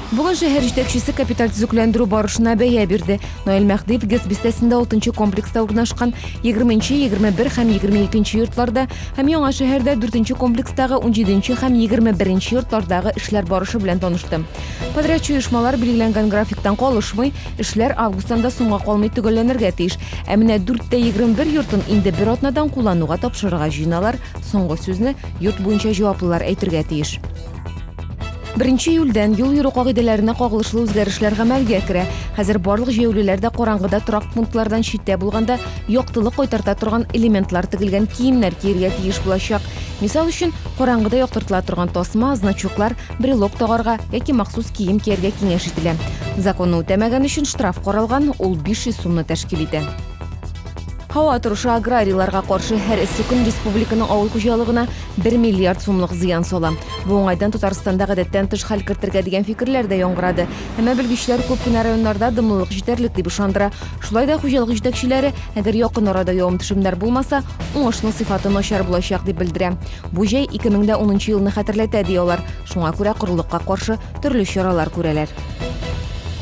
Бүген шәһәр җитәкчесе капиталь төзекләндерү барышына бәя бирде. Наил Мәхдиев ГЭС бистәсендә 6 комплекста урнашкан 20-21 һәм 22 йортларда һәм яңа шәһәрдә 4 комплекстагы 17 һәм 21 йортлардагы эшләр барышы белән танышты. Подрядчы оешмалар билгеләнгән графиктан калышмый, эшләр августтан да соңга калмый төгәлләнергә тиеш. Ә менә 4 тә 21 йортын инде бер атнадан куллануга тапшырырга җыеналар. Соңгы сүзне йорт буенча җаваплылар әйтергә тиеш. Беренче июльдән юл йөрү кагыйдәләренә кагылышлы үзгәрешләр гамәлгә керә. Хәзер барлык җәяүлеләр дә караңгыда торак пунктлардан читтә булганда яктылык кайтарта торган элементлар тегелгән киемнәр киергә тиеш булачак. Мисал өчен, караңгыда яктыртыла торган тасма, значоклар, брелок тагарга яки махсус кием кияргә киңәш ителә. Законны үтәмәгән өчен штраф каралган, ул 500 сумны тәшкил итә. Һава торышы аграрийларга каршы һәр эссе көн республиканың авыл хуҗалыгына 1 миллиард сумлык зыян сала. Бу уңайдан Татарстанда гадәттән тыш хәл кертергә дигән фикерләр дә яңгырады. Әмма белгечләр күп кенә районнарда дымлылык җитәрлек дип ышандыра. Шулай да хуҗалык җитәкчеләре, әгәр якын арада явым-төшемнәр булмаса, уңышның сыйфаты начар булачак дип белдерә. Бу җәй 2010 елны хәтерләтә, ди алар. Шуңа күрә корылыкка каршы төрле чаралар күрәләр.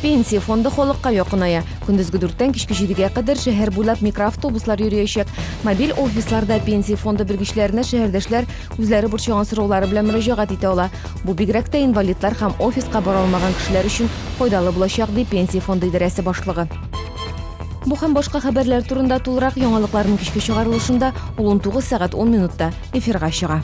Пенсия фонды халыкка якыная. Көндезге дүрттән кичке җидегә кадәр шәһәр буйлап микроавтобуслар йөриячәк. Мобиль офисларда пенсия фонды белгечләренә шәһәрдәшләр үзләре борчыган сораулары белән мөрәҗәгать итә ала. Бу бигрәк тә инвалидлар һәм офиска бара алмаган кешеләр өчен файдалы булачак, ди Пенсия фонды идарәсе башлыгы. Бу һәм башка хәбәрләр турында тулырак яңалыкларның кичке чыгарылышында, ул 19 сәгать 10 минутта эфирга чыга.